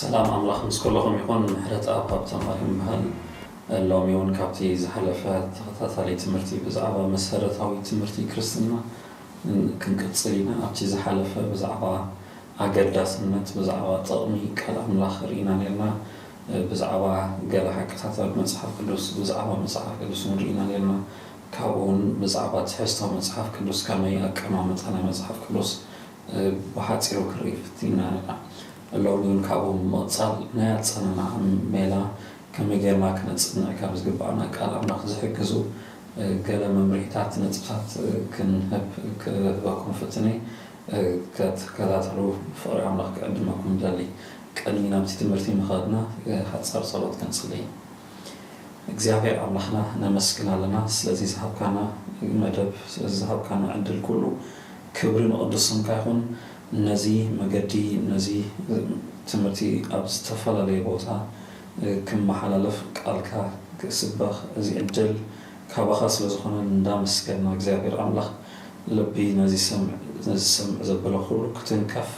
ሰላም ኣምላኽ ምስ ኩልኹም ይኹን ምሕረትኣብ ሃብተማል ይበሃል ሎሚ እውን ካብቲ ዝሓለፈ ተኸታታሊ ትምህርቲ ብዛዕባ መሰረታዊ ትምህርቲ ክርስትና ክንቅፅል ኢና ኣብቲ ዝሓለፈ ብዛዕባ ኣገዳስነት ብዛዕባ ጥቕሚ ቃል ኣምላኽ ርኢና ነርና ብዛዕባ ገለ ሓቅታት ኣብ መፅሓፍ ቅዱስ ብዛዕባ መፅሓፍ ቅዱስ እውን ርኢና ነርና ካብኡውን ብዛዕባ ትሕዝቶ መጽሓፍ ቅዱስ ከመይ ኣቀማምጣ ናይ መጽሓፍ ቅዱስ ብሓጺሩ ክርኢ ፍቲና ኣለና። ሎሚ እውን ካብኡ ብምቕጻል ናይ ኣጸናንዓ ሜላ ከመይ ጌርና ክነጽንዕ ከም ዝግብኣና ቃል ኣምላኽ ዝሕግዙ ገለ መምርሒታት ነጥብታት ክንህብ ክህበኩም ፍትነ ክትከታተሉ ብፍቕሪ ኣምላኽ ክዕድመኩም እደሊ። ቅድሚ ናብቲ ትምህርቲ ምኻድና ሓጻር ጸሎት ክንጽሊ። እግዚኣብሔር ኣምላክና ነመስግን ኣለና ስለዚ ዝሃብካና መደብ ስለዚ ዝሃብካና ዕድል ኩሉ ክብሪ ንቅዱስ ስምካ ይኩን ነዚ መገዲ ነዚ ትምህርቲ ኣብ ዝተፈላለየ ቦታ ክመሓላለፍ ቃልካ ክስበክ እዚ ዕድል ካባካ ስለ ዝኮነ እንዳመስገና እግዚኣብሔር ኣምላክ ልቢ ነዚ ዝሰምዕ ዘበለ ኩሉ ክትንከፍ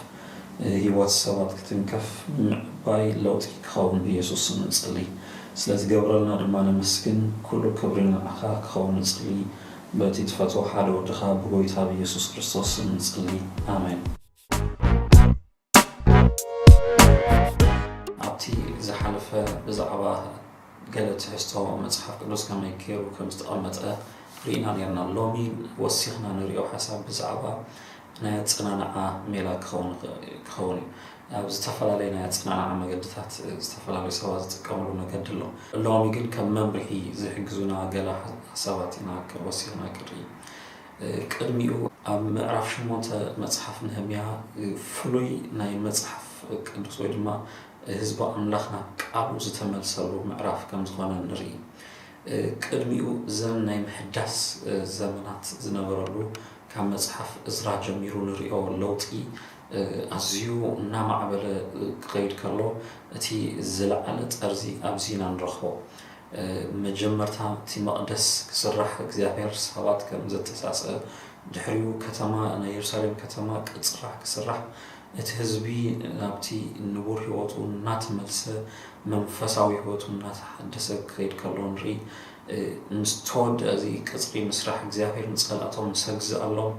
ህይወት ሰባት ክትንከፍ ምዕባይ ለውጢ ክኸውን ብየሱስ ስም ንጽሊ ስለትገብረልና ድማ ነመስግን ኩሉ ክብሪ ንዓኻ ክኸውን ንጽሊ በቲ ትፈትዎ ሓደ ወድኻ ብጎይታ ብየሱስ ክርስቶስ ስም ንጽሊ ኣሜን። ኣብቲ ዝሓለፈ ብዛዕባ። ገለ ትሕዝቶ መጽሓፍ ቅዱስ ከመይ ጌሩ ከም ዝተቐመጠ ርኢና ኔርና። ሎሚ ወሲኽና ንርእዮ ሓሳብ ብዛዕባ ናይ ኣጸናንዓ ሜላ ክኸውን እዩ። ኣብ ዝተፈላለየ ናይ ኣጸናንዓ መገድታት ዝተፈላለዩ ሰባት ዝጥቀምሉ መገዲ ኣሎ። ሎሚ ግን ከም መምርሒ ዝሕግዙና ገለ ሓሳባት ኢና ወሲኽና ክንርኢ። ቅድሚኡ ኣብ ምዕራፍ ሸሞንተ መጽሓፍ ነህምያ ፍሉይ ናይ መጽሓፍ ቅዱስ ወይ ድማ ህዝቢ ኣምላኽ ናብ ቃሉ ዝተመልሰሉ ምዕራፍ ከም ዝኾነ ንርኢ። ቅድሚኡ ዘን ናይ ምሕዳስ ዘመናት ዝነበረሉ ካብ መጽሓፍ እዝራ ጀሚሩ ንርእዮ ለውጢ ኣዝዩ እናማዕበለ ክኸይድ ከሎ እቲ ዝለዓለ ጠርዚ ኣብዚ ኢና ንረኽቦ። መጀመርታ እቲ መቕደስ ክስራሕ እግዚኣብሔር ሰባት ከም ዘተሳሰ ድሕሪኡ ከተማ ናይ የሩሳሌም ከተማ ቅጽራ ክስራሕ እቲ ህዝቢ ናብቲ ንቡር ህይወቱ እናተመልሰ፣ መንፈሳዊ ህይወቱ እናተሓደሰ ክኸይድ ከሎ ንርኢ። ምስ ተወድኣ እዚ ቅጽሪ ምስራሕ እግዚኣብሔር ንጸላእቶም ምስ ኣግዝኣሎም፣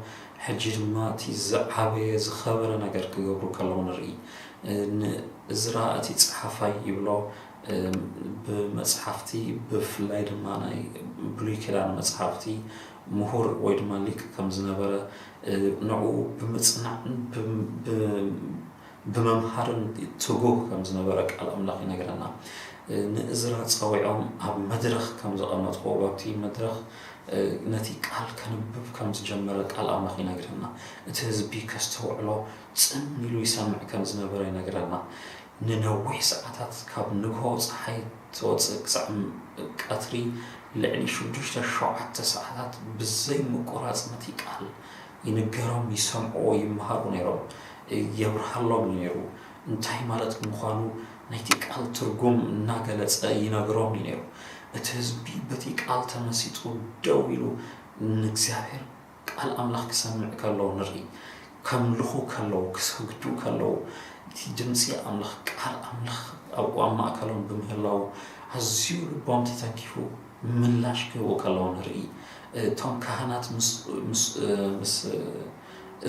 ሕጂ ድማ እቲ ዝዓበየ ዝኸበረ ነገር ክገብሩ ከለዉ ንርኢ። ንእዝራ እቲ ጸሓፋይ ይብሎ፣ ብመጽሓፍቲ ብፍላይ ድማ ናይ ብሉይ ኪዳን መጽሓፍቲ ምሁር ወይ ድማ ሊቅ ከም ዝነበረ ንዕኡ ብምጽናዕን ብምምሃርን ትጉህ ከም ዝነበረ ቃል ኣምላኽ ይነግረና። ንእዝራ ጸዊዖም ኣብ መድረኽ ከም ዘቐመጥዎ ኣብቲ መድረኽ ነቲ ቃል ከንብብ ከም ዝጀመረ ቃል ኣምላኽ ይነግረና። እቲ ህዝቢ ከስተውዕሎ ጽን ኢሉ ይሰምዕ ከም ዝነበረ ይነግረና። ንነዊሕ ሰዓታት ካብ ንግሆ ጸሓይ ትወጽእ ክሳዕ ቀትሪ ልዕሊ ሽዱሽተ ሸውዓተ ሰዓታት ብዘይ ምቁራጽ ነቲ ቃል ይንገሮም ይሰምዕዎ ይመሃሩ ነይሮም የብርሃሎም እዩ ነይሩ እንታይ ማለት ምዃኑ ናይቲ ቃል ትርጉም እናገለጸ ይነግሮም እዩ ነይሩ እቲ ህዝቢ በቲ ቃል ተመሲጡ ደው ኢሉ ንእግዚኣብሔር ቃል ኣምላኽ ክሰምዕ ከሎ ንርኢ። ከምልኹ ከለዉ ክሰግዱ ከለዉ እቲ ድምጺ ኣምላኽ ቃል ኣምላኽ ኣብኡ ኣብ ማእከሎም ብምህላዉ ኣዝዩ ልቦም ተተንኪፉ ምላሽ ክህቡ ከለዉ ንርኢ። እቶም ካህናት ምስ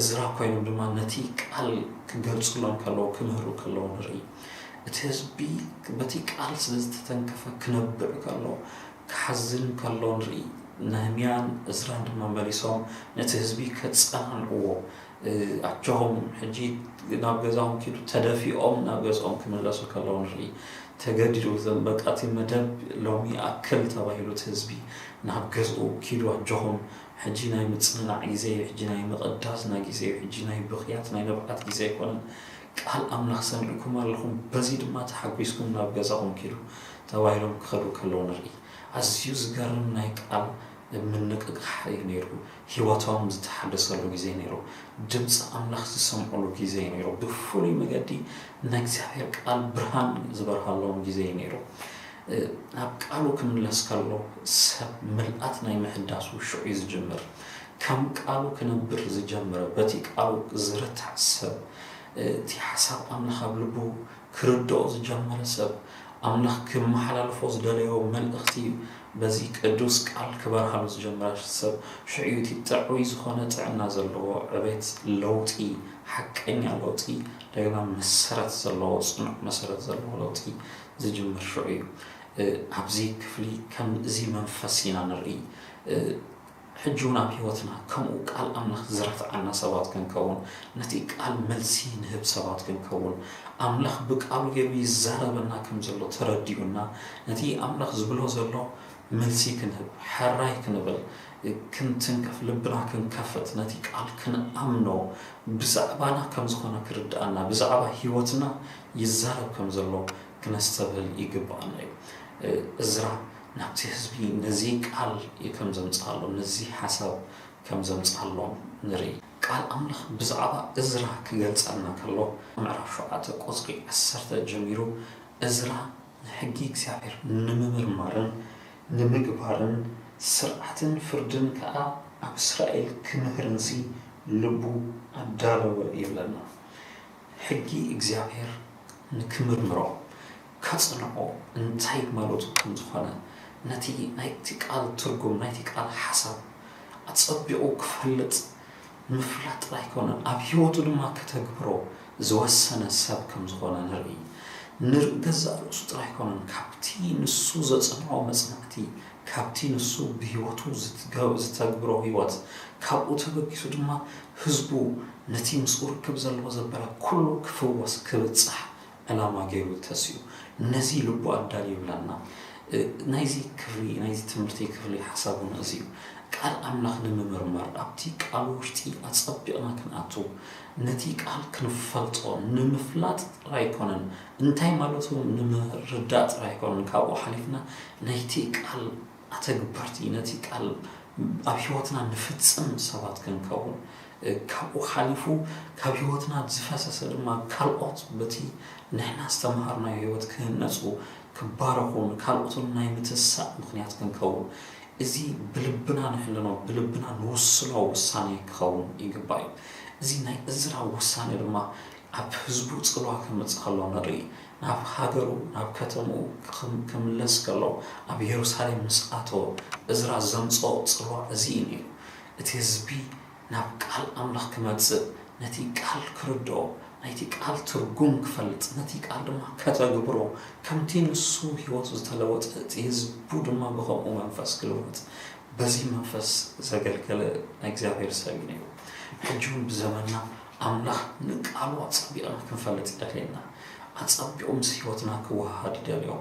እዝራ ኮይኖም ድማ ነቲ ቃል ክገልጽሎም ከለዉ ክምህሩ ከለዉ ንርኢ። እቲ ህዝቢ በቲ ቃል ስለ ዝተተንከፈ ክነብዕ ከሎ ክሓዝን ከሎ ንርኢ። ነህምያን እዝራን ድማ መሊሶም ነቲ ህዝቢ ከጸናንዕዎ፣ ኣጆኹም ሕጂ ናብ ገዛኹም ኪዱ፣ ተደፊኦም ናብ ገዝኦም ክምለሱ ከለዉ ንርኢ። ተገዲዱ እዘም በቃ እቲ መደብ ሎሚ ይኣክል ተባሂሉ እቲ ህዝቢ ናብ ገዝኡ ኪዱ ኣጆኹም ሕጂ ናይ ምጽንናዕ ግዜ እዩ፣ ሕጂ ናይ ምቕዳስና ግዜ እዩ፣ ሕጂ ናይ ብኽያት ናይ ንብዓት ግዜ ኣይኮነን፣ ቃል ኣምላኽ ሰሚዕኩም ኣለኹም፣ በዚ ድማ ተሓጒስኩም ናብ ገዛኹም ኪዱ ተባሂሎም ኪኸዱ ከለዉ ንርኢ። ኣዝዩ ዚገርም ናይ ቃል ምንቕቓሕ እዩ ነይሩ። ህይወቶም ዝተሓደሰሉ ግዜ ነይሩ። ድምጺ ኣምላኽ ዝሰምዑሉ ግዜ እዩ ነይሩ። ብፍሉይ መገዲ ናይ እግዚኣብሄር ቃል ብርሃን ዝበርሃሎም ግዜ እዩ ነይሩ። ናብ ቃሉ ኪምለስ ከሎ ሰብ ምልኣት ናይ ምሕዳሱ ሽዑ እዩ ዝጅምር። ከም ቃሉ ኪነብር ዝጀመረ በቲ ቃሉ ዝረታዕ ሰብ እቲ ሓሳብ ኣምላኽ ኣብ ልቡ ክርድኦ ዝጀመረ ሰብ፣ ኣምላኽ ክመሓላልፎ ዝደለዮ መልእኽቲ እዩ በዚ ቅዱስ ቃል ክበርሃሉ ዝጀመረ። ሰብ ሽዑ እዩ እቲ ጥዑይ ዝኾነ ጥዕና ዘለዎ ዕቤት፣ ለውጢ፣ ሓቀኛ ለውጢ፣ እንደገና መሰረት ዘለዎ፣ ጽኑዕ መሰረት ዘለዎ ለውጢ ዝጅምር ሽዑ እዩ። ኣብዚ ክፍሊ ከም እዚ መንፈስ ኢና ንርእይ። ሕጂውን ኣብ ሕይወትና ከምኡ ቃል ኣምላኽ ዝረትዓና ሰባት ክንከውን ነቲ ቃል መልሲ ንህብ ሰባት ክንከውን ኣምላኽ ብቃሉ ገሩ ይዛረበና ከም ዘሎ ተረዲኡና ነቲ ኣምላኽ ዝብሎ ዘሎ መልሲ ክንህብ ሐራይ ክንብል ክንትንከፍ ልብና ክንከፍት ነቲ ቃል ክንኣምኖ ብዛዕባና ከም ዝኾነ ክርድኣና ብዛዕባ ሕይወትና ይዛረብ ከም ዘሎ ክነስተብህል ይግብኣና እዩ እዝራ ናብቲ ህዝቢ ነዚ ቃል ከም ዘምጽኣሎም ነዚ ሓሳብ ከም ዘምጽኣሎም ንርኢ። ቃል ኣምላኽ ብዛዕባ እዝራ ክገልጸልና ከሎ ምዕራፍ ሸውዓተ ቁጽሪ ዓሰርተ ጀሚሩ እዝራ ንሕጊ እግዚኣብሔር ንምምርማርን ንምግባርን ስርዓትን ፍርድን ከኣ ኣብ እስራኤል ክምህርንሲ ልቡ ኣዳለወ ይብለና። ሕጊ እግዚኣብሔር ንክምርምሮ ከጽንዖ እንታይ ማለቱ ከም ዝኾነ፣ ነቲ ናይቲ ቃል ትርጉም፣ ናይቲ ቃል ሓሳብ ኣጸቢቑ ክፈልጥ ምፍላጥ ጥራይ ኣይኮነን፣ ኣብ ህይወቱ ድማ ከተግብሮ ዝወሰነ ሰብ ከም ዝኾነ ንርኢ። ንር ገዛእ ርእሱ ጥራይ ኣይኮነን፣ ካብቲ ንሱ ዘጽንዖ መጽናዕቲ፣ ካብቲ ንሱ ብህይወቱ ዝተግብሮ ህይወት፣ ካብኡ ተበጊሱ ድማ ህዝቡ ነቲ ምስኡ ርክብ ዘለዎ ዘበለ ኩሉ ክፍወስ፣ ክብጻሕ፣ ዕላማ ገይሩ ተሲኡ ነዚ ልቡ ኣዳልዩ ይብላና። ናይዚ ክፍሊ ናይዚ ትምህርቲ ክፍሊ ሓሳብ ውን እዚ እዩ። ቃል ኣምላኽ ንምምርማር ኣብቲ ቃሉ ውሽጢ ኣጸቢቕና ክንኣቱ ነቲ ቃል ክንፈልጦ ንምፍላጥ ጥራይ ኣይኮነን እንታይ ማለቱ ንምርዳእ ጥራይ ኣይኮነን ካብኡ ሓሊፍና ናይቲ ቃል ኣተግበርቲ ነቲ ቃል ኣብ ሕይወትና ንፍጽም ሰባት ክንከውን ካብኡ ሓሊፉ ካብ ሕይወትና ዝፈሰሰ ድማ ካልኦት በቲ ንሕና ዝተምሃርናዮ ሕይወት ክህነጹ ክባረኹ ንካልኦትን ናይ ምትሳእ ምኽንያት ክንከውን እዚ ብልብና ንሕንኖ ብልብና ንውስኖ ውሳኔ ክኸውን ይግባእዩ እዚ ናይ እዝራ ውሳኔ ድማ ኣብ ህዝቡ ጽልዋ ከምጽእ ከሎ ንርኢ። ናብ ሃገሩ፣ ናብ ከተምኡ፣ ክምለስ ከሎ ኣብ የሩሳሌም ምስ ኣተወ፣ እዝራ ዘምጽኦ ጽልዋ እዚ እዩ ነይሩ። እቲ ህዝቢ ናብ ቃል ኣምላኽ ክመጽእ፣ ነቲ ቃል ክርድኦ፣ ናይቲ ቃል ትርጉም ክፈልጥ፣ ነቲ ቃል ድማ ከተግብሮ፣ ከምቲ ንሱ ህይወቱ ዝተለወጠ እቲ ህዝቡ ድማ ብኸምኡ መንፈስ ክልወጥ በዚ መንፈስ ዘገልገለ ናይ እግዚኣብሔር ሰብ እዩ ነይሩ። ሕጂውን ብዘመንና ኣምላኽ ንቃሉ ኣጸቢቕና ክንፈልጥ ይደልየና። ኣጸቢቑ ምስ ሕይወትና ክወሃሃድ ይደልዮ።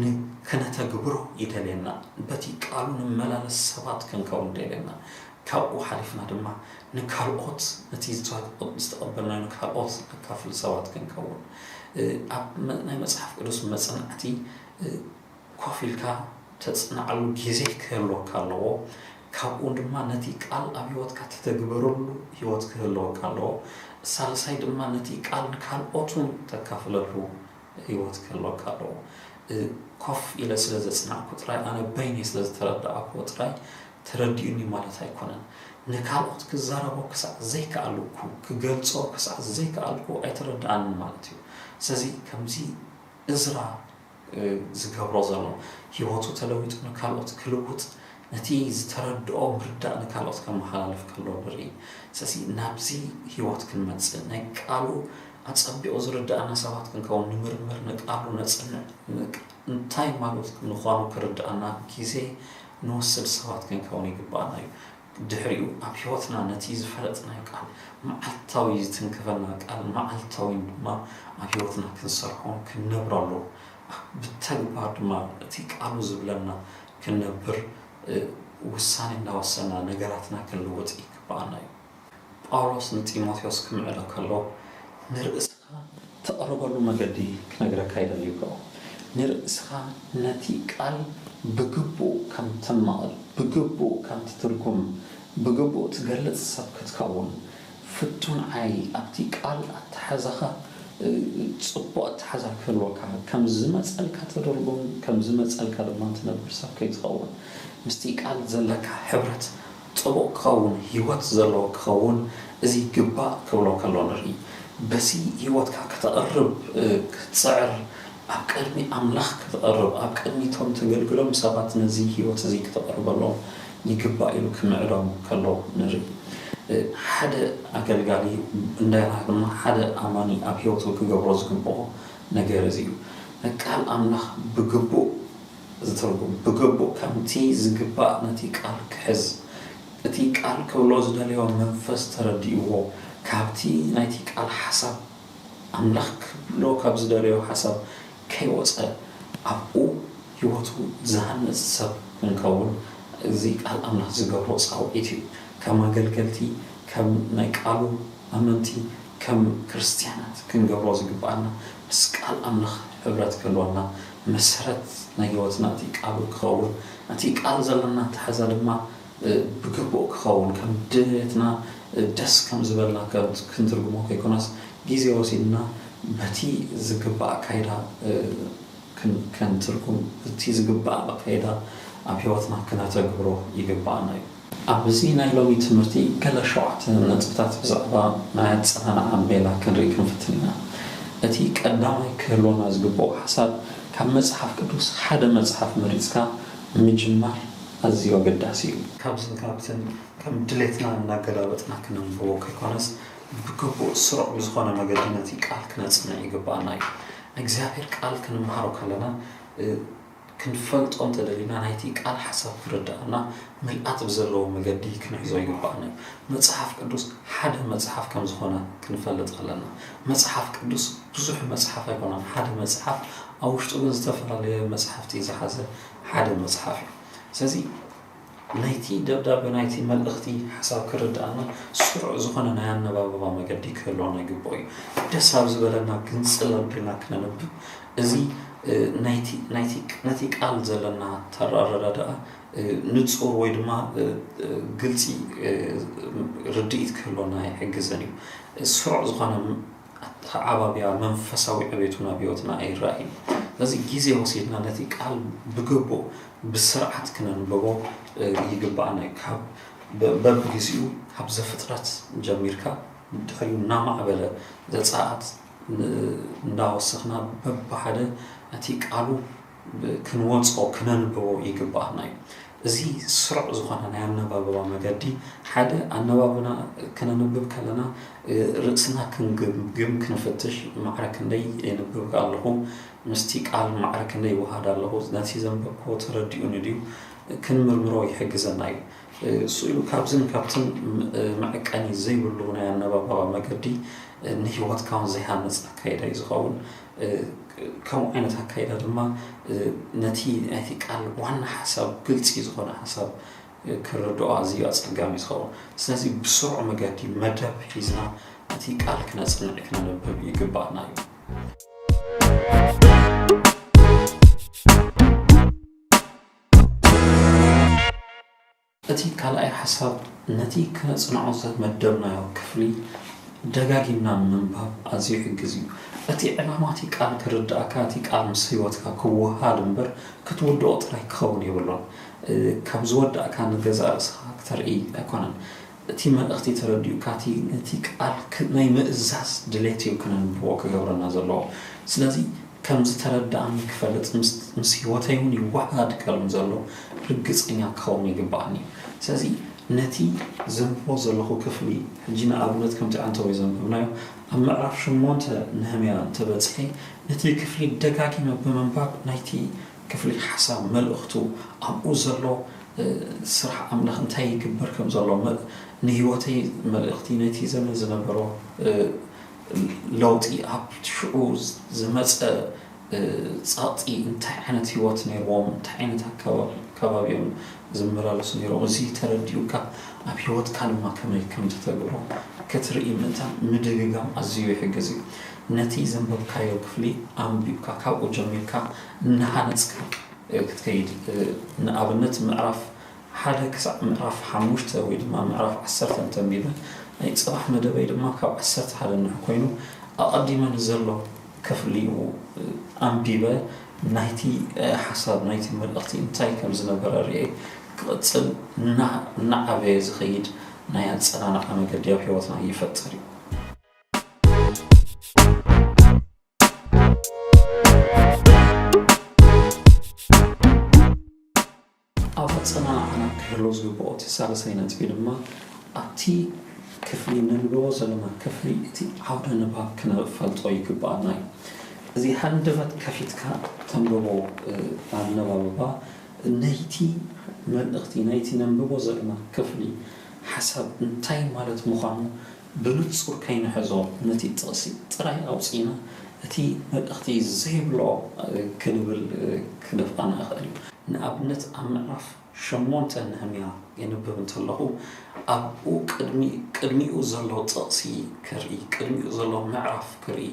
ን ክነተግብሮ ይደልየና። በቲ ቃሉ ንመላለስ ሰባት ክንከውን ይደልየና። ካብኡ ሓሊፍና ድማ ንካልኦት ነቲ ዝተቐበልናዮ ንካልኦት ነካፍል ሰባት ክንከውን ኣብ ናይ መጽሓፍ ቅዱስ መጽናዕቲ ኮፍ ኢልካ ተጽንዓሉ ጊዜ ክህልወካ ኣለዎ ካብኡ ድማ ነቲ ቃል ኣብ ሂወትካ ትተግብረሉ ሂወት ክህልወካ ኣለዎ ሳልሳይ ድማ ነቲ ቃል ንካልኦትውን ተካፍለሉ ሂወት ክህልወካ ኣለዎ ኮፍ ኢለ ስለ ዘጽናዕኩ ጥራይ ኣነ በይነይ ስለ ዝተረዳኣክዎ ጥራይ ተረዲኡኒ ማለት ኣይኮነን ንካልኦት ክዛረቦ ክሳዕ ዘይከኣልኩ ክገልጾ ክሳዕ ዘይከኣልኩ ኣይተረዳኣንን ማለት እዩ ስለዚ ከምዚ እዝራ ዝገብሮ ዘሎ ሂወቱ ተለዊጡ ንካልኦት ክልውጥ ነቲ ዝተረድኦ ምርዳእ ንካልኦት ከመሓላልፍ ከሎ ንርኢ ስለዚ ናብዚ ሂወት ክንመጽእ ናይ ቃሉ ኣጸቢቑ ዝርድኣና ሰባት ክንከውን ንምርምር ንቃሉ ነጽንዕ እንታይ ማለቱ ምዃኑ ክርድኣና ግዜ ንወስድ ሰባት ክንከውን ይግብኣና እዩ ድሕሪኡ ኣብ ሕይወትና ነቲ ዝፈለጥናዮ ቃል መዓልታዊ ዝትንክፈና ቃል መዓልታዊ ድማ ኣብ ሕይወትና ክንሰርሖን ክንነብረሉ ኣብ ብተግባር ድማ እቲ ቃሉ ዝብለና ክንነብር ውሳኔ እናወሰና ነገራትና ክንልውጥ ይግብኣና እዩ። ጳውሎስ ንጢሞቴዎስ ክምዕዶ ከሎ ንርእሰ። እተቕርበሉ መገዲ ክነግረካ ይደሊ'ኮ። ንርእስኻ ነቲ ቃል ብግቡእ ከም ተማቕል፣ ብግቡእ ከም ትትርጉም፣ ብግቡእ ትገልጽ ሰብ ክትከውን ፍቱን ዓይ ኣብቲ ቃል ኣተሓሕዛኻ ጽቡቕ ኣተሓሕዛ ክህልወካ፣ ከም ዝመጸልካ ትድርጉም፣ ከም ዝመጸልካ ድማ ትነብር ሰብ ከይትኸውን፣ ምስቲ ቃል ዘለካ ሕብረት፣ ጽቡቕ ክኸውን ህይወት ዘለዎ ክኸውን እዚ ይግባእ ክብሎ ከሎ ንርኢ። በዚ ህይወትካ ከተቕርብ ክትጽዕር ኣብ ቅድሚ ኣምላኽ ክትቐርብ ኣብ ቅድሚ እቶም ተገልግሎም ሰባት ነዚ ህይወት እዚ ክተቕርበሎም ይግባእ ኢሉ ክምዕዶም ከሎ ንርኢ። ሓደ ኣገልጋሊ እንደገና ድማ ሓደ ኣማኒ ኣብ ህይወቱ ክገብሮ ዝግብኦ ነገር እዚ እዩ። ቃል ኣምላኽ ብግቡእ ዝትርጉም ብግቡእ ከምቲ ዝግባእ ነቲ ቃል ክሕዝ እቲ ቃል ክብሎ ዝደለዮ መንፈስ ተረዲእዎ ካብቲ ናይቲ ቃል ሓሳብ ኣምላኽ ክብሎ ካብ ዝደለዮ ሓሳብ ከይወጸ ኣብኡ ሕይወቱ ዝሃንጽ ሰብ ክንከውን እዚ ቃል ኣምላኽ ዝገብሮ ጻውዒት እዩ ከም ኣገልገልቲ ከም ናይ ቃሉ ኣመንቲ ከም ክርስትያናት ክንገብሮ ዝግብኣና ምስ ቃል ኣምላኽ ሕብረት ክህልወና መሰረት ናይ ሕይወትና እቲ ቃሉ ክኸውን ነቲ ቃል ዘለና ኣተሓሕዛ ድማ ብግቡእ ክኸውን ከም ድልየትና ደስ ከም ዝበልና ክንትርጉሞ ከይኮነስ ጊዜ ወሲድና በቲ ዝግባእ ኣካይዳ ክንትርጉም እቲ ዝግባእ ኣካይዳ ኣብ ሕይወትና ክነተግብሮ ይግብኣና እዩ። ኣብዚ ናይ ሎሚ ትምህርቲ ገለ ሸውዓተ ነጥብታት ብዛዕባ ናይ ኣጸናንዓ ሜላ ክንርኢ ክንፍትን ኢና። እቲ ቀዳማይ ክህልወና ዝግብኦ ሓሳብ ካብ መጽሓፍ ቅዱስ ሓደ መጽሓፍ መሪጽካ ምጅማር ኣዝዩ ኣገዳሲ እዩ። ካብዝን ካብትን ከም ድሌትና እናገላበጥና ክነንብቦ ከይኮነስ ብግቡእ ስሩዕ ብዝኾነ መገዲ ነቲ ቃል ክነጽንዕ ይግብኣና እዩ። ናይ እግዚኣብሔር ቃል ክንምሃሮ ከለና፣ ክንፈልጦ እንተ ደሊና ናይቲ ቃል ሓሳብ ክርድኣና ምልኣት ብዘለዎ መገዲ ክንሕዞ ይግብኣና እዩ። መጽሓፍ ቅዱስ ሓደ መጽሓፍ ከም ዝኾነ ክንፈልጥ ኣለና። መጽሓፍ ቅዱስ ብዙሕ መጽሓፍ ኣይኮነን ሓደ መጽሓፍ ኣብ ውሽጡ ግን ዝተፈላለየ መጽሓፍቲ ዝሓዘ ሓደ መጽሓፍ እዩ። ስለዚ ናይቲ ደብዳበ ናይቲ መልእኽቲ ሓሳብ ክርድኣና ስሩዕ ዝኾነ ናይ ኣነባብባ መገዲ ክህልወና ይግብኦ እዩ። ደስ ኣብ ዝበለና ግንጽል ኣቢልና ክነንብብ እዚ ነቲ ቃል ዘለና ኣረዳድኣ ንጹር ወይ ድማ ግልጺ ርድኢት ክህልወና ይሕግዘን እዩ። ስሩዕ ዝኾነ ኣተዓባብያ መንፈሳዊ ዕቤቱን ኣብ ሕይወትና ኣይረኣይን። ስለዚ ጊዜ ወሲድና ነቲ ቃል ብግቡእ ብስርዓት ክነንብቦ ይግብኣና እዩ። ካብ በብጊዜኡ ካብ ዘፍጥረት ጀሚርካ ድሕሪኡ እናማዕበለ ዘጸኣት እንዳወሰኽና በብሓደ ነቲ ቃሉ ክንወጾ ክነንብቦ ይግብኣና እዩ። እዚ ስሩዕ ዝኾነ ናይ ኣነባብባ መገዲ ሓደ ኣነባብና ክነንብብ ከለና ርእስና ክንግምግም ክንፍትሽ ማዕረ ክንደይ የንብብ ኣለኹ ምስቲ ቃል ማዕረ ክንደይ ይወሃድ ኣለኹ ነቲ ዘንበብክዎ ተረዲኡኒ ድዩ ክንምርምሮ ይሕግዘና እዩ። ስኢሉ ካብዝን ካብትን መዕቀኒ ዘይብሉ ናይ ኣነባብባ መገዲ ንህይወትካ ውን ዘይሃንጽ ኣካይዳ እዩ ዝኸውን። ከምኡ ዓይነት ኣካይዳ ድማ ነቲ ናይቲ ቃል ዋና ሓሳብ ግልፂ ዝኾነ ሓሳብ ክርድኦ ኣዝዩ ኣፀጋሚ ዝኸውን ስለዚ ብስሩዕ መገዲ መደብ ሒዝና እቲ ቃል ክነፅንዕ ክነንብብ ይግባእና እዩ እቲ ካልኣይ ሓሳብ ነቲ ከነጽንዖ ዝመደብናዮ ክፍሊ ደጋጊምና ምንባብ ኣዝዩ ይሕግዝ እዩ። እቲ ዕላማ እቲ ቃል ክርድኣካ፣ እቲ ቃል ምስ ህይወትካ ክወሃሃድ እምበር ክትውድኦ ጥራይ ክኸውን የብሉን። ከም ዝወዳእካ ንገዛእ ርእስኻ ክተርኢ ኣይኮነን። እቲ መልእኽቲ ተረዲኡካ እቲ ነቲ ቃል ናይ ምእዛዝ ድሌት እዩ ክነንብቦ ክገብረና ዘለዎ። ስለዚ ከም ዝተረድኣኒ ክፈልጥ ምስ ህይወተይ እውን ይወሃሃድ ከም ዘሎ ርግጸኛ ክኸውን ይግብኣኒ እዩ። ስለዚ ነቲ ዘንብቦ ዘለኹ ክፍሊ ሕጂ ንኣብነት ከምቲ ኣንተወይ ዘንበብናዮ ኣብ ምዕራፍ ሸሞንተ ነህምያ እንተ በጺሐ ነቲ ክፍሊ ደጋጊመ ብምንባብ ናይቲ ክፍሊ ሓሳብ መልእኽቱ ኣብኡ ዘሎ ስራሕ ኣምላኽ እንታይ ይግበር ከም ዘሎ ንህይወተይ መልእኽቲ ነቲ ዘመን ዝነበሮ ለውጢ ኣብ ሽዑ ዝመጸ ጸቕጢ እንታይ ዓይነት ህይወት ነይርዎም እንታይ ዓይነት ኣከባቢ ከባቢ እዮም ዝመላለሱ ነይሮም እዚ ተረዲኡካ ኣብ ህይወትካ ድማ ከመይ ከም ተተግብሮ ክትርኢ ምእታን ምድግጋም ኣዝዩ ይሕግዝ እዩ ነቲ ዘንበብካዮ ክፍሊ ኣንቢብካ ካብኡ ጀሚርካ እናሃነጽካ ክትከይድ ንኣብነት ምዕራፍ ሓደ ክሳዕ ምዕራፍ ሓሙሽተ ወይ ድማ ምዕራፍ ዓሰርተ እንተንቢበ ናይ ጽባሕ መደበይ ድማ ካብ ዓሰርተ ሓደ ንዑ ኮይኑ ኣቐዲመ ንዘሎ ክፍሊ ኣንቢበ ናይቲ ሓሳብ ናይቲ መልእኽቲ እንታይ ከም ዝነበረ ርእየ ክቕጽል እናዓበየ ዝኸይድ ናይ ኣጸናንዓ መገዲ ኣብ ሕይወትና ይፈጥር እዩ። ኣብ ኣጸናንዓና ክህሉ ዝግብኦ እቲ ሳልሳይ ነጥቢ ድማ፣ ኣብቲ ክፍሊ ነንብቦ ዘሎና ክፍሊ እቲ ዓውደ ንባብ ክንፈልጦ ይግብኣና እዩ። እዚ ሃንደበት ከፊትካ እተንብቦ ኣነባብባ ናይቲ መልእኽቲ ናይቲ ነንብቦ ዘሎና ክፍሊ ሓሳብ እንታይ ማለት ምዃኑ ብንጹር ከይንሕዞ ነቲ ጥቕሲ ጥራይ ኣውጺእና እቲ መልእኽቲ ዘይብሎ ክንብል ክደፍኣና ይኽእል እዩ። ንኣብነት ኣብ ምዕራፍ ሸሞንተ ነህምያ የንብብ እንተለኹ ኣብኡ ቅድሚ ቅድሚኡ ዘሎ ጥቕሲ ክርኢ ቅድሚኡ ዘሎ ምዕራፍ ክርኢ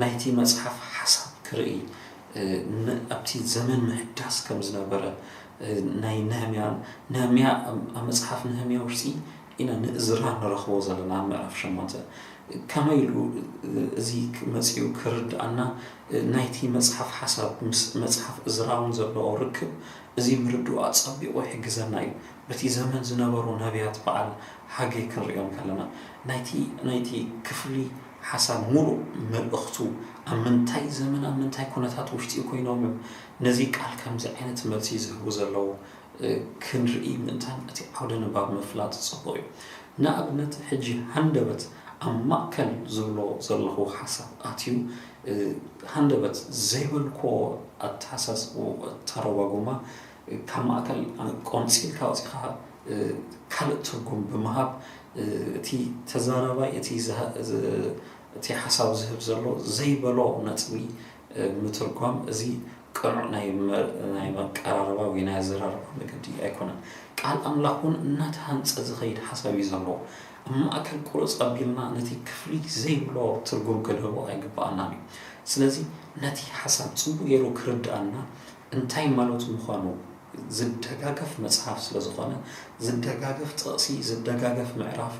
ናይቲ መጽሓፍ ሓሳብ ክርኢ ን ኣብቲ ዘመን ምህዳስ ከም ዝነበረ ናይ ነህምያ ነህምያ ኣብ መጽሓፍ ነህምያ ውሽጢ ኢና ንእዝራ ንረኽቦ ዘለና ምዕራፍ ሸሞንተ ከመይ ኢሉ እዚ መጺኡ ክርድኣና ናይቲ መጽሓፍ ሓሳብ ምስ መጽሓፍ እዝራውን ዘለዎ ርክብ እዚ ምርድኡ ኣጸቢቑ ይሕግዘና እዩ በቲ ዘመን ዝነበሩ ነብያት በዓል ሃጌ ክንርእዮም ከለና ናይቲ ናይቲ ክፍሊ ሓሳብ ሙሉእ መልእኽቱ ኣብ ምንታይ ዘመን ኣብ ምንታይ ኩነታት ውሽጢ ኮይኖም እዮም ነዚ ቃል ከምዚ ዓይነት መልሲ ዝህቡ ዘለዉ ክንርኢ ምእንታን እቲ ዓውደ ንባብ ምፍላጥ ጽቡቕ እዩ። ንኣብነት ሕጂ ሃንደበት ኣብ ማእከል ዝብሎ ዘለኹ ሓሳብ ኣትዩ ሃንደበት ዘይበልኩዎ ኣተሓሳስብኡኣተረጓጉማ ካብ ማእከል ቆንጺልካ ኣውጺኻ ካልእ ትርጉም ብምሃብ እቲ ተዛራባይ እቲ እቲ ሓሳብ ዝህብ ዘሎ ዘይበሎ ነጥቢ ንምትርጓም እዚ ቅኑዕ ናይ ናይ መቀራረባ ወይ ናይ ኣዘራርባ መገዲ ኣይኮነን። ቃል ኣምላኽ እውን እናተሃንጸ ዝኸይድ ሓሳብ እዩ ዘለዎ። ኣብ ማእከል ቁርጽ ኣቢልና ነቲ ክፍሊ ዘይብሎ ትርጉም ክንህቦ ኣይግብኣናን እዩ። ስለዚ ነቲ ሓሳብ ጽቡቕ ገይሩ ክርድኣና እንታይ ማለቱ ምዃኑ፣ ዝደጋገፍ መጽሓፍ ስለ ዝኾነ፣ ዝደጋገፍ ጥቕሲ፣ ዝደጋገፍ ምዕራፍ፣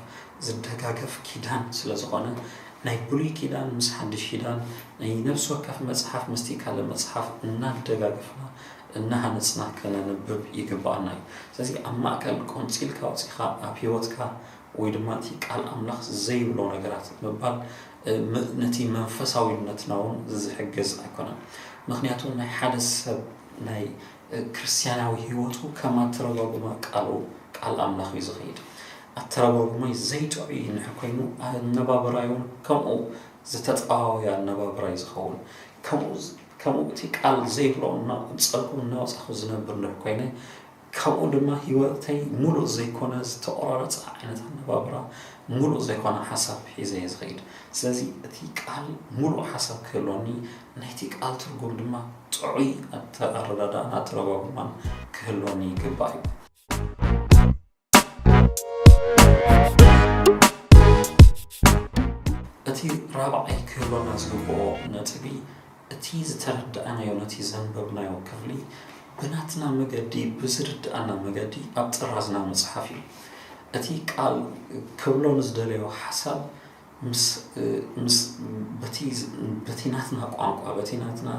ዝደጋገፍ ኪዳን ስለ ዝኾነ፣ ናይ ብሉይ ኪዳን ምስ ሓድሽ ኪዳን፣ ናይ ነብሲ ወከፍ መጽሓፍ ምስቲ ካልእ መጽሓፍ እናደጋገፍና እናሃነጽና ከነንብብ ይግብኣና እዩ። ስለዚ ኣብ ማእከል ቆንጺልካ ኣውጺኻ ኣብ ህይወትካ ወይ ድማ እቲ ቃል ኣምላኽ ዘይብሎ ነገራት ምባል ነቲ መንፈሳዊነትና እውን ዝሕግዝ ኣይኮነን። ምክንያቱ ናይ ሓደ ሰብ ናይ ክርስትያናዊ ሕይወቱ ከም ኣተረጓጉማ ቃሉ ቃል ኣምላኽ እዩ ዝኸይድ። ኣተረጓጉማይ ዘይጥዑይ እንድሕር ኮይኑ ኣነባብራይውን ከምኡ ዝተጠዋወየ ኣነባብራ እዩ ዝኸውን። ከምኡ ከምኡ እቲ ቃል ዘይብሎ እናቆንጸልኩ እናወጻኹ ዝነብር እንድሕር ኮይነ ካብኡ ድማ ህይወተይ ሙሉእ ዘይኮነ ዝተቆራረፀ ዓይነት ኣነባብራ ሙሉእ ዘይኮነ ሓሳብ ሒዘ እየ ዝኸይድ። ስለዚ እቲ ቃል ሙሉእ ሓሳብ ክህልወኒ ናይቲ ቃል ትርጉም ድማ ጥዑይ ኣተኣረዳድኣን ኣተረጓጉማን ክህልወኒ ይግባእ እዩ። እቲ ራብዓይ ክህልወና ዝግበኦ ነጥቢ እቲ ዝተረዳእናዮ ነቲ ዘንበብናዮ ክፍሊ ብናትና መገዲ ብዝርድኣና መገዲ ኣብ ጥራዝና ምጽሓፍ እዩ። እቲ ቃል ክብሎ ንዝደለዮ ሓሳብ ምስ ምስ በቲ በቲ ናትና ቋንቋ በቲ ናትና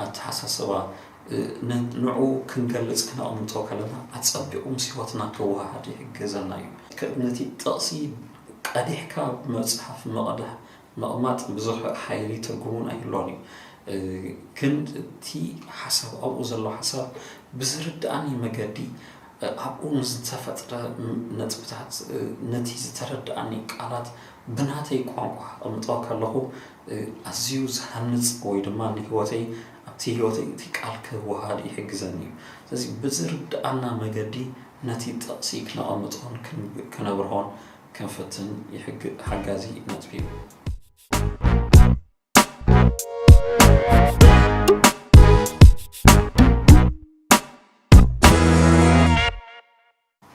ኣተሓሳስባ ን ንዕኡ ክንገልጽ ክነቕምጦ ከለና ኣጸቢቑ ምስ ህይወትና ክወሃሃድ ይሕግዘና እዩ። ነቲ ጥቕሲ ቀዲሕካ መጽሓፍ ምቕዳሕ ምቕማጥ ብዙሕ ሓይሊ ትርጉሙን ኣይህልዎን እዩ ግን እቲ ሓሳብ ኣብኡ ዘሎ ሓሳብ ብዝርድኣኒ መገዲ ኣብኡ ምስ ዝተፈጥረ ነጥብታት ነቲ ዝተረድኣኒ ቃላት ብናተይ ቋንቋ ከቐምጦ ከለኹ ኣዝዩ ዝሃንጽ ወይ ድማ ንህይወተይ ኣብቲ ህይወተይ እቲ ቃል ክወሃድ ይሕግዘኒ እዩ ስለዚ ብዝርድኣና መገዲ ነቲ ጥቕሲ ክነቐምጦን ክነብርሆን ክንፍትን ሓጋዚ ነጥቢ እዩ።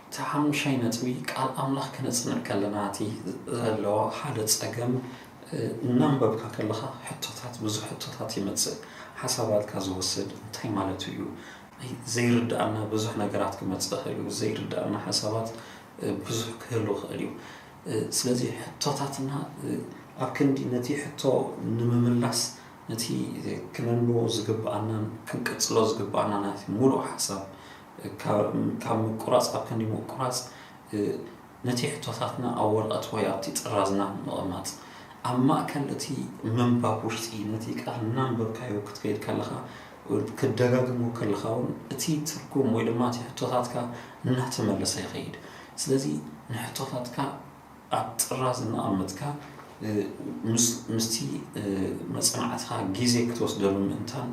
እቲ ሓሙሻይ ነጥቢ ቃል ኣምላኽ ክነጽንዕ ከለና እቲ ዘለዎ ሓደ ጸገም እናንበብካ ከለኻ ሕቶታት ብዙሕ ሕቶታት ይመጽእ ሓሳባትካ ዝወስድ እንታይ ማለት እዩ ዘይርድኣና ብዙሕ ነገራት ክመጽእ ይኽእል እዩ። ዘይርድኣና ሓሳባት ብዙሕ ክህሉ ይኽእል እዩ። ስለዚ ሕቶታትና ኣብ ክንዲ ነቲ ሕቶ ንምምላስ ነቲ ክነንብቦ ዝግብኣናን ክንቅጽሎ ዝግብኣና ናይቲ ሙሉእ ሓሳብ ካብ ምቁራጽ ኣብ ክንዲ ምቁራጽ ነቲ ሕቶታትና ኣብ ወረቐት ወይ ኣብቲ ጥራዝና ብምቕማጥ፣ ኣብ ማእከል እቲ ምንባብ ውሽጢ ነቲ ቃል እናንበብካዮ ክትከይድ ከለኻ፣ ክትደጋግሞ ከለኻ ውን እቲ ትርጉም ወይ ድማ እቲ ሕቶታትካ እናተመለሰ ይኸይድ። ስለዚ ንሕቶታትካ ኣብ ጥራዝ እናቐመጥካ ምስ ምስቲ መጽናዕትኻ ግዜ ክትወስደሉ ምእንታን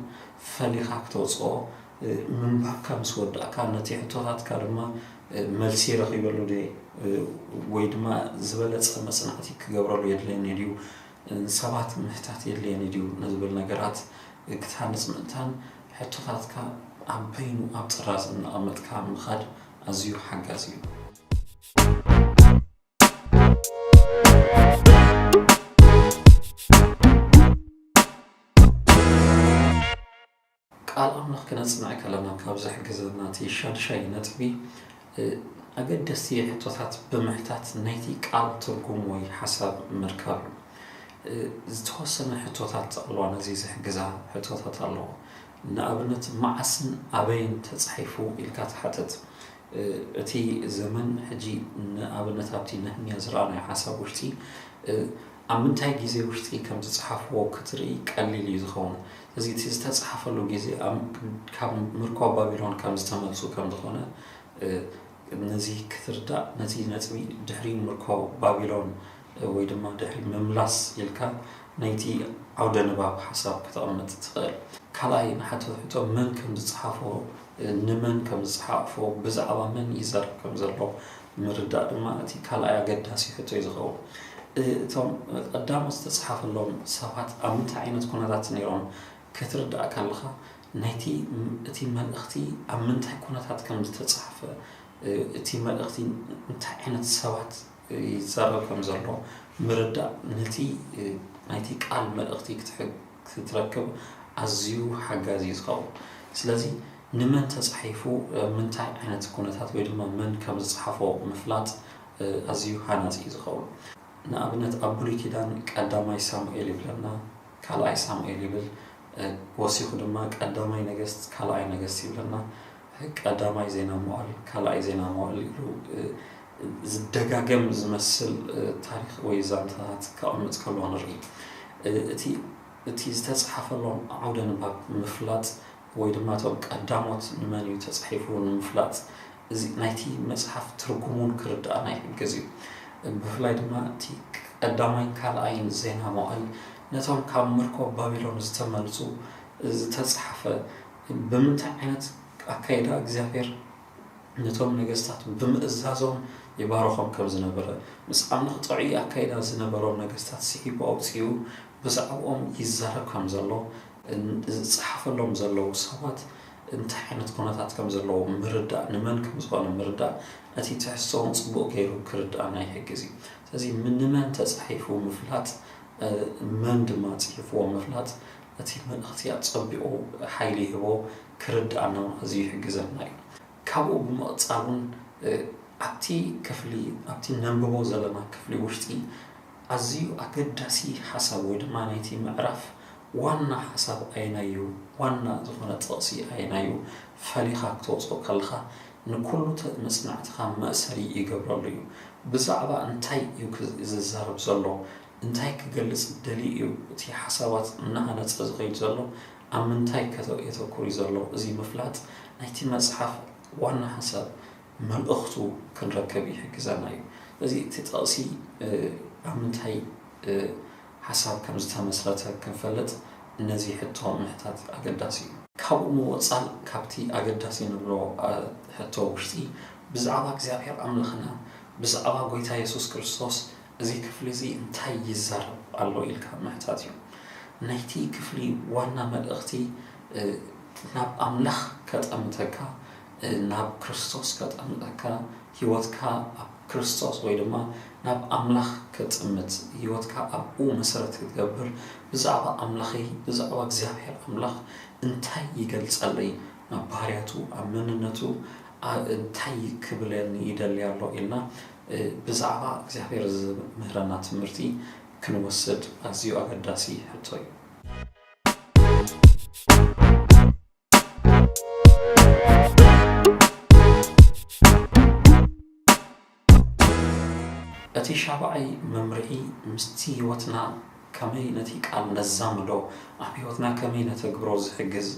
ፈሊኻ ክተውጽኦ ምንባብካ ምስ ወዳእካ ነቲ ሕቶታትካ ድማ መልሲ ረኺበሉ ድየ ወይ ድማ ዝበለጸ መጽናዕቲ ክገብረሉ የድልየኒ ድዩ፣ ንሰባት ምሕታት የድልየኒ ድዩ ንዝብል ነገራት ክትሃንጽ ምእንታን ሕቶታትካ ኣብ በይኑ ኣብ ጥራዝ እናቐመጥካ ምኻድ ኣዝዩ ሓጋዚ እዩ። ቃል ኣምላኽ ክነጽንዕ ከለና ካብ ዝሕግዘና እቲ ሻድሻይ ነጥቢ ኣገደስቲ ሕቶታት ብምሕታት ናይቲ ቃል ትርጉም ወይ ሓሳብ ምርካብ እዩ። ዝተወሰነ ሕቶታት ጠቕልዋ ነዚ ዝሕግዛ ሕቶታት ኣለዎ። ንኣብነት መዓስን ኣበይን ተጻሒፉ ኢልካ ትሓትት። እቲ ዘመን ሕጂ ንኣብነት ኣብቲ ነህምያ ዝረኣናዮ ሓሳብ ውሽጢ ኣብ ምንታይ ግዜ ውሽጢ ከም ዝጸሓፍዎ ክትርኢ ቀሊል እዩ ዝኸውን፣ ስለዚ እቲ ዝተጸሓፈሉ ግዜ ኣብ ካብ ምርኮ ባቢሎን ከም ዝተመልሱ ከም ዝኾነ ነዚ ክትርዳእ ነዚ ነጥቢ ድሕሪ ምርኮ ባቢሎን ወይ ድማ ድሕሪ ምምላስ ኢልካ ናይቲ ዓውደ ንባብ ሓሳብ ከተቕምጥ ትኽእል። ካልኣይ ንሓቶ ሕቶ መን ከም ዝጸሓፎ፣ ንመን ከም ዝጸሓፎ፣ ብዛዕባ መን ይዛረብ ከም ዘሎ፣ ምርዳእ ድማ እቲ ካልኣይ ኣገዳሲ ሕቶ እዩ ዝኸውን። እቶም ቀዳሞት ዝተጽሓፈሎም ሰባት ኣብ ምንታይ ዓይነት ኩነታት ነይሮም ከትርዳእ ከለኻ ናይቲ እቲ መልእኽቲ ኣብ ምንታይ ኩነታት ከም ዝተጻሕፈ እቲ መልእኽቲ እንታይ ዓይነት ሰባት ይዛረብ ከም ዘሎ ምርዳእ ነቲ ናይቲ ቃል መልእኽቲ ክትሕግ ክትረክብ ኣዝዩ ሓጋዚ እዩ ዝኸውን። ስለዚ ንመን ተጻሒፉ ኣብ ምንታይ ዓይነት ኩነታት ወይ ድማ መን ከም ዝጸሓፎ ምፍላጥ ኣዝዩ ሃናጺ እዩ ዝኸውን። ንኣብነት ኣብ ብሉይ ኪዳን ቀዳማይ ሳሙኤል ይብለና፣ ካልኣይ ሳሙኤል ይብል፣ ወሲኹ ድማ ቀዳማይ ነገስት ካልኣይ ነገስት ይብለና፣ ቀዳማይ ዜና መዋዕል ካልኣይ ዜና መዋዕል ኢሉ ዝደጋገም ዝመስል ታሪኽ ወይ ዛንታታት ከቐምጥ ከሎ ንርኢ። እቲ እቲ ዝተጽሓፈሎም ዓውደ ንባብ ንምፍላጥ ወይ ድማ እቶም ቀዳሞት ንመን እዩ ተጻሒፉ ንምፍላጥ እዚ ናይቲ መጽሓፍ ትርጉሙን ክርድኣና ይሕግዝ እዩ። ብፍላይ ድማ እቲ ቀዳማይን ካልኣይን ዜና መዋእል ነቶም ካብ ምርኮ ባቢሎን ዝተመልጹ ዝተጽሓፈ ብምንታይ ዓይነት ኣካይዳ እግዚኣብሔር ነቶም ነገስታት ብምእዛዞም ይባርኾም ከም ዝነበረ፣ ምስ ዓመኽጻዒ ኣካይዳ ዝነበሮም ነገስታት ስሒቡ ኣውጺኡ ብዛዕብኦም ይዛረብ ከም ዘሎ፣ ዝጸሓፈሎም ዘለዉ ሰባት እንታይ ዓይነት ኩነታት ከም ዘለዎም ምርዳእ፣ ንመን ከም ዝኾነ ምርዳእ፣ ነቲ ትሕዝቶ'ውን ጽቡቕ ገይሩ ክርድኣና ይሕግዝ እዩ። ስለዚ ንመን ተጻሒፉ ምፍላጥ፣ መን ድማ ጽሒፍዎ ምፍላጥ፣ እቲ መልእኽቲ ኣጸቢቑ ሓይሊ ይህቦ፣ ክርድኣና እውን ኣዝዩ ይሕግዘና እዩ። ካብኡ ብምቕጻል እውን ኣብቲ ክፍሊ ኣብቲ ነንብቦ ዘለና ክፍሊ ውሽጢ ኣዝዩ ኣገዳሲ ሓሳብ ወይ ድማ ናይቲ ምዕራፍ ዋና ሓሳብ ኣየናይ እዩ፣ ዋና ዝኾነ ጥቕሲ ኣየናይ እዩ ፈሊኻ ክተውጽኦ ከለኻ ንኩሉ መጽናዕትኻ መእሰሪ ይገብረሉ እዩ። ብዛዕባ እንታይ እዩ ዝዛረብ ዘሎ እንታይ ክገልጽ ደልዩ እዩ እቲ ሓሳባት እናሃነጸ ዝኸይድ ዘሎ፣ ኣብ ምንታይ ከ የተኩር እዩ ዘሎ፣ እዚ ምፍላጥ ናይቲ መጽሓፍ ዋና ሓሳብ፣ መልእኽቱ፣ ክንረክብ ይሕግዘና እዩ። ስለዚ እቲ ጥቕሲ ኣብ ምንታይ ሓሳብ ከም ዝተመስረተ ክንፈልጥ ነዚ ሕቶ ምሕታት ኣገዳሲ እዩ። ካብኡ ምወጻእ ካብቲ ኣገዳሲ ንብሎ ሕቶ ውሽጢ ብዛዕባ እግዚኣብሔር ኣምላኽና፣ ብዛዕባ ጎይታ የሱስ ክርስቶስ እዚ ክፍሊ እዚ እንታይ ይዛረብ ኣሎ ኢልካ ምሕታት እዩ። ናይቲ ክፍሊ ዋና መልእኽቲ ናብ ኣምላኽ ከጠምተካ፣ ናብ ክርስቶስ ከጠምተካ፣ ህይወትካ ኣብ ክርስቶስ ወይ ድማ ናብ ኣምላኽ ከጥምት፣ ህይወትካ ኣብኡ መሰረት ክትገብር፣ ብዛዕባ ኣምላኸይ ብዛዕባ እግዚኣብሔር ኣምላኽ እንታይ ይገልጸለይ፣ ኣብ ባህርያቱ ኣብ መንነቱ እንታይ ክብለኒ ይደሊ ኣሎ ኢልና ብዛዕባ እግዚኣብሔር ዝምህረና ትምህርቲ ክንወስድ ኣዝዩ ኣገዳሲ ሕቶ እዩ። እቲ ሻብዓይ መምርሒ ምስቲ ሕይወትና ከመይ ነቲ ቃል ነዛምዶ ኣብ ሕይወትና ከመይ ነተግብሮ ዝሕግዝ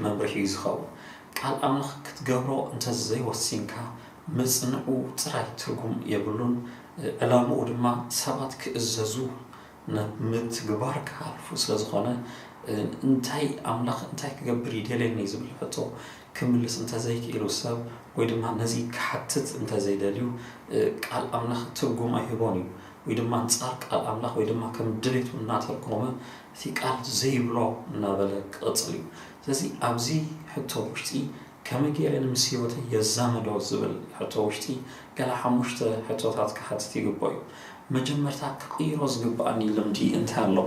መምርሒ እዩ ዝኸውን። ቃል ኣምላኽ ክትገብሮ እንተዘይወሲንካ መጽንዑ ጥራይ ትርጉም የብሉን፣ ዕላምኡ ድማ ሰባት ክእዘዙ ናብ ምትግባር ክሃልፉ ስለ ዝኾነ፣ እንታይ ኣምላኽ እንታይ ክገብር ይደልየኒ ዝብል ሕቶ ክምልስ እንተ ዘይክኢሉ ሰብ ወይ ድማ ነዚ ክሓትት እንተ ዘይደልዩ ቃል ኣምላኽ ትርጉም ኣይህቦን እዩ። ወይ ድማ ኣንጻር ቃል ኣምላኽ ወይ ድማ ከም ድሌቱ እናተርጎመ እቲ ቃል ዘይብሎ እናበለ ክቕጽል እዩ። ስለዚ ኣብዚ ሕቶ ውሽጢ ከመይ ገይረ እየ ምስ ህይወተይ የዛምዶ ዝብል ሕቶ ውሽጢ ገለ ሓሙሽተ ሕቶታት ክሓትት ይግብኦ እዩ። መጀመርታ ክቕይሮ ዝግብኣኒ ልምዲ እንታይ ኣሎ?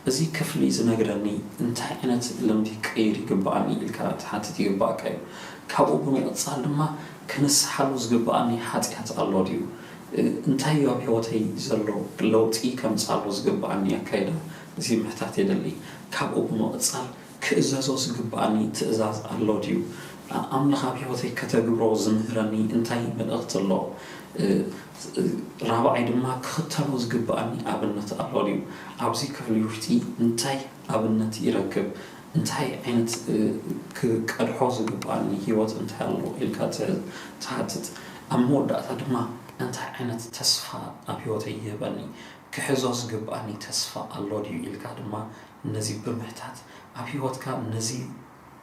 እዚ ክፍሊ ዝነግረኒ እንታይ ዓይነት ልምዲ ክቕይር ይግብኣኒ ኢልካ ትሓትት ይግብኣካ እዩ። ካብኡ ብምቕጻል ድማ ክንስሓሉ ዝግብኣኒ ሓጥያት ኣሎ ድዩ? እንታይ እዩ ኣብ ህይወተይ ዘሎ ለውጢ ከምጽኣሉ ዝግብኣኒ ኣካይዳ እዚ ምሕታት የድሊ። ካብኡ ብምቕጻል ክእዘዞ ዝግብኣኒ ትእዛዝ ኣሎ ድዩ? ኣምላኽ ኣብ ህይወተይ ከተግብሮ ዝምህረኒ እንታይ መልእኽቲ ኣሎ? ራብዓይ ድማ ክኽተሎ ዝግብኣኒ ኣብነት ኣሎ ድዩ? ኣብዚ ክፍሊ ውሽጢ እንታይ ኣብነት ይረክብ? እንታይ ዓይነት ክቀድሖ ዝግብኣኒ ህይወት እንታይ ኣሎ ኢልካ ትሓትት። ኣብ መወዳእታ ድማ እንታይ ዓይነት ተስፋ ኣብ ህይወተይ ይህበኒ? ክሕዞ ዝግብኣኒ ተስፋ ኣሎ ድዩ ኢልካ ድማ ነዚ ብምሕታት ኣብ ህይወትካ ነዚ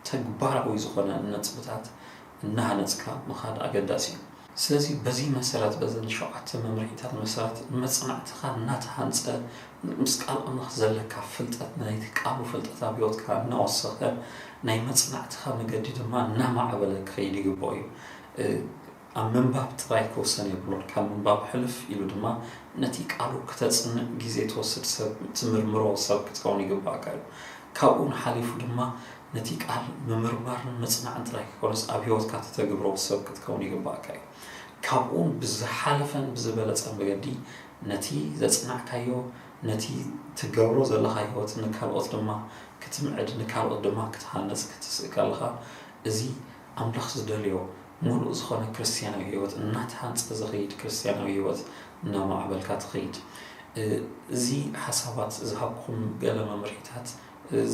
ተግባራዊ ዝኾነ ነጥብታት እናሃነፅካ ምኻድ ኣገዳሲ እዩ። ስለዚ በዚ መሰረት በዘን ሸውዓተ መምርሒታት መሰረት መፅናዕትኻ እናተሃንፀ ምስ ቃል ኣምላኽ ዘለካ ፍልጠት ናይቲ ቃሉ ፍልጠት ኣብ ህይወትካ እናወሰኸ ናይ መፅናዕትኻ መገዲ ድማ እናማዕበለ ክኸይድ ይግበኦ እዩ። ኣብ ምንባብ ጥራይ ክውሰን የብሉን። ካብ ምንባብ ሕልፍ ኢሉ ድማ ነቲ ቃሉ ክተጽንዕ ግዜ ትወስድ ሰብ ትምርምሮ ሰብ ክትከውን ይግብኣካ እዩ። ካብኡውን ሓሊፉ ድማ ነቲ ቃል ምምርማርን ምጽናዕን ጥራይ ከይኮነስ ኣብ ህይወትካ ተተግብሮ ሰብ ክትከውን ይግብኣካ እዩ። ካብኡውን ብዝሓለፈን ብዝበለጸን መገዲ ነቲ ዘጽናዕካዮ ነቲ ትገብሮ ዘለኻ ህይወት ንካልኦት ድማ ክትምዕድ ንካልኦት ድማ ክትሃንጽ ክትስእከለኻ እዚ ኣምላኽ ዝደልዮ ምሉእ ዝዀነ ክርስትያናዊ ህይወት እናተሃንጸ ዝኸይድ ክርስትያናዊ ህይወት እናማዕበልካ ትኸይድ። እዚ ሓሳባት ዝሃብኩም ገለ መምርሒታት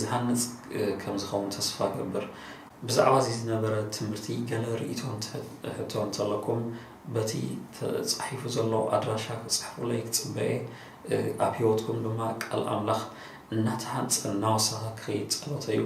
ዝሃንጽ ከም ዝኸውን ተስፋ እገብር። ብዛዕባ እዚ ዝነበረ ትምህርቲ ገለ ርእይቶ ሕቶ እንተ ኣለኩም በቲ ተጻሒፉ ዘሎ ኣድራሻ ክትጽሕፉለይ ክጽበ እየ። ኣብ ህይወትኩም ድማ ቃል ኣምላኽ እናተሃንጸ እናወሰኸ ክኸይድ ጸሎተይ እዩ።